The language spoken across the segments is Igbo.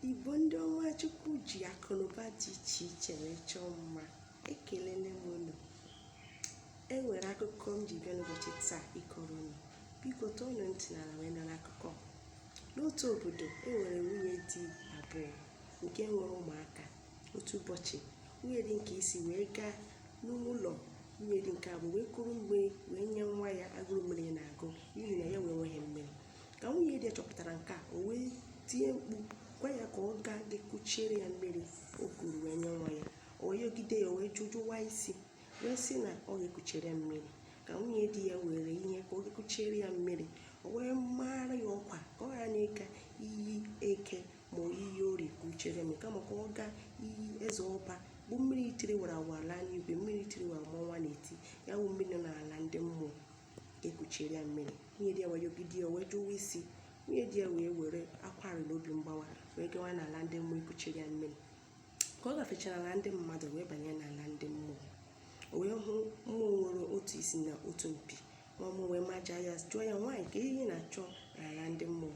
igbo ndị ọma chukwu ji akụnụba dị iche iche wee chọọ mma ekelele m unu e nwere akụkọ m ji bịa n'ụbọchị taa ịkọrọ unu biko tọọnụ ntị n'ala wee nara akụkọ n'otu obodo e nwere nwunye di abụọ nke nwere ụmụaka otu ụbọchị nwunye di nke isi wee gaa n'ụlọ nwunye di nke abụọ wee kuru mmiri wee nye nwa ya agụrụ mmiri na-agụ n'ihi na ya wee nweghị mmiri ka nwunye di ya chọpụtara nke a o wee tie mkpu gwa ya ka ọ gaa ga-ekuchiere ya mmiri o kuru wee nye nwa ya o wee yọgide ya o wee jụwa isi wee sị na ọ ga-ekuchere ya mmiri ka nwunye di ya were ihe ka ọ ga-ekuchiere ya mmiri o wee mara ya ọkwa ka ọ ghara ịga iyi eke ma ọ iyi orie kuchere mmiri kama ka ọ gaa iyi eze ọba bụ mmiri tiri wara wara n'igwe mmiri tiri wara ma ọnwa na-eti ya bụ mmiri nọ n'ala ndị mmụọ ekuchiere ya mmiri nwunye di ya wee yọgide ya wee jụwa isi nwunye di ya wee were akwa arịrị na obi mgbawa wee gawa n'ala ndị mmụọ ikuchiere ya mmiri ka ọ gafechara ala ndị mmadụ wee banye n'ala ndị mmụọ o wee hụ mmụọ nwere otu isi na otu mpi mmụọ wee maja ya jụọ ya nwaanyị kee ihe ị na-achọ n'ala ndị mmụọ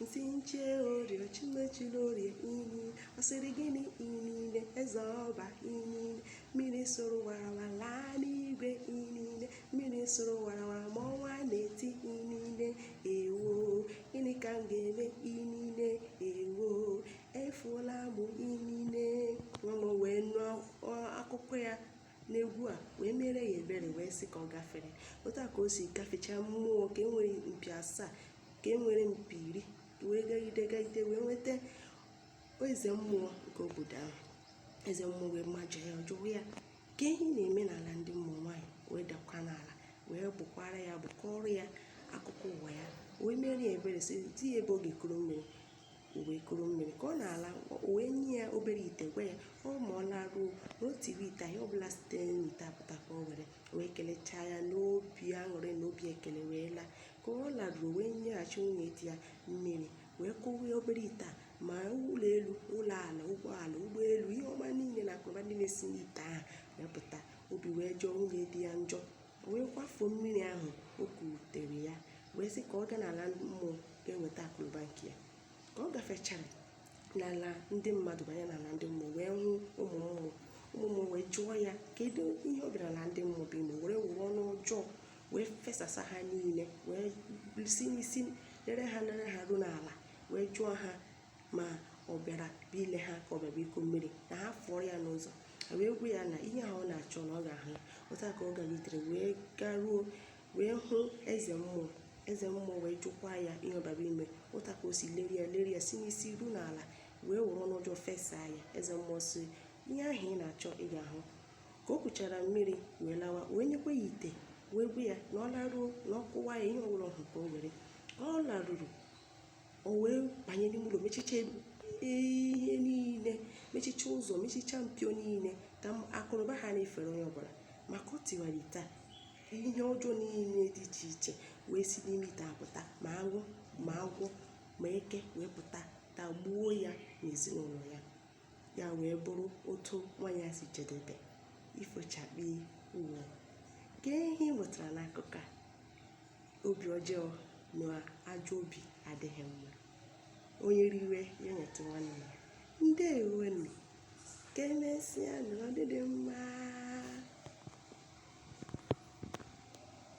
m sị m chue orie sị m echula orie inine ọ sịrị gịnị inine eze ọba inine mmiri soro warawara laa n'igwe inine mmiri soro warawara ma ọnwa na-eti inine ewo gịnị ka m ga-eme inine ewo efuola m inine mmụọ wee nụọ akụkọ ya n'egwu a wee mere ya ebere wee sị ka ọ gafere otu a ka o si gafechaa mmụọ nke nwere mpi asaa nke nwere mpi iri wee gagide gagide wee nweta eze mmụọ nke obodo ahụ eze mmụọ wee maja ya jụọ ya kee ihe ọ na-eme n'ala ndị mmụọ nwaanyị wee dakwa n'ala wee bụkwara ya abụ kọọrọ ya akụkọ ụwa ya wee mere ya ebere zi ya ebe ọ ga-ekuru mmiri o wee kuru mmiri ka ọ na-ala o wee nye ya obere ite gwa ya ọ ma ọ laruo na o tiri ite ihe ọbụla site n'ite a pụta ka o were o wee kelechaa ya n'obi aṅụrị na obi ekele wee laa ka ọ laruru o wee nyeghachi nwunye di ya mmiri wee kụwaa obere ite a ma ụlọ elu ụlọ ala ụgbọala ụgbọelu ihe ọma niile na akụnụba ndị na-esi n'ite ahụ wee pụta obi wee jọọ nwunye di ya njọ o wee kwafuo mmiri ahụ o kutere ya wee sị ka ọ gaa n'ala mmụọ ga-enweta akụnụba nke ya ka ọ gafechara n'ala ndị mmadụ banye n'ala ndị mmụọ wee hụ ụmụ mmụọ ụmụ mmụọ wee jụọ ya kedu ihe ọ bịara n'ala ndị mmụọ bụ ime wee were ọnụ ọjọọ wee fesasa ha niile wee si n'isi lere ha lere ha ruo n'ala wee jụọ ha ma ọ bịara bụ ile ha ka ọ bịa bụ iku mmiri na ha fụọrọ ya n'ụzọ ha wee gwa ya na ihe ahụ ọ na-achọ na ọ ga-ahụ ya otu a ka ọ galitere wee garuo wee hụ eze mmụọ eze mmụọ wee jụkwa ya ihe ọ bịara ime otu a ka o si leri ya leri ya si n'isi ruo n'ala wee were ọnụ ọjọọ fesa ya eze mmụọ sị ihe ahụ ị na-achọ ị ga-ahụ ka o kuchara mmiri wee lawa wee nyekwa ya ite wee gwa ya na ọ laruo na ọ kụwa ya ihe ọbụla ọ hụ ka o were ọ laruru o wee banye n'ime ụlọ mechicha ihe niile mechicha ụzọ mechicha mpio niile ka akụnụba ghara ifere onye ọbụla ma ka o tiwara ite a ihe ọjọọ niile dị iche iche wee si n'ime ite a pụta ma aṅụ ma agwọ ma eke wee pụta tagbuo ya na ezinụlọ ya ya wee bụrụ otu nwaanyị a si jedebe ifo chakpii wọọ kee ihe ị mụtara n'akụkọ a obi ọjọọ na ajọ obi adịghị mma onye riwe ya nyetụ nwanne ya ndeewonu ka emesịa na ọdịdị mma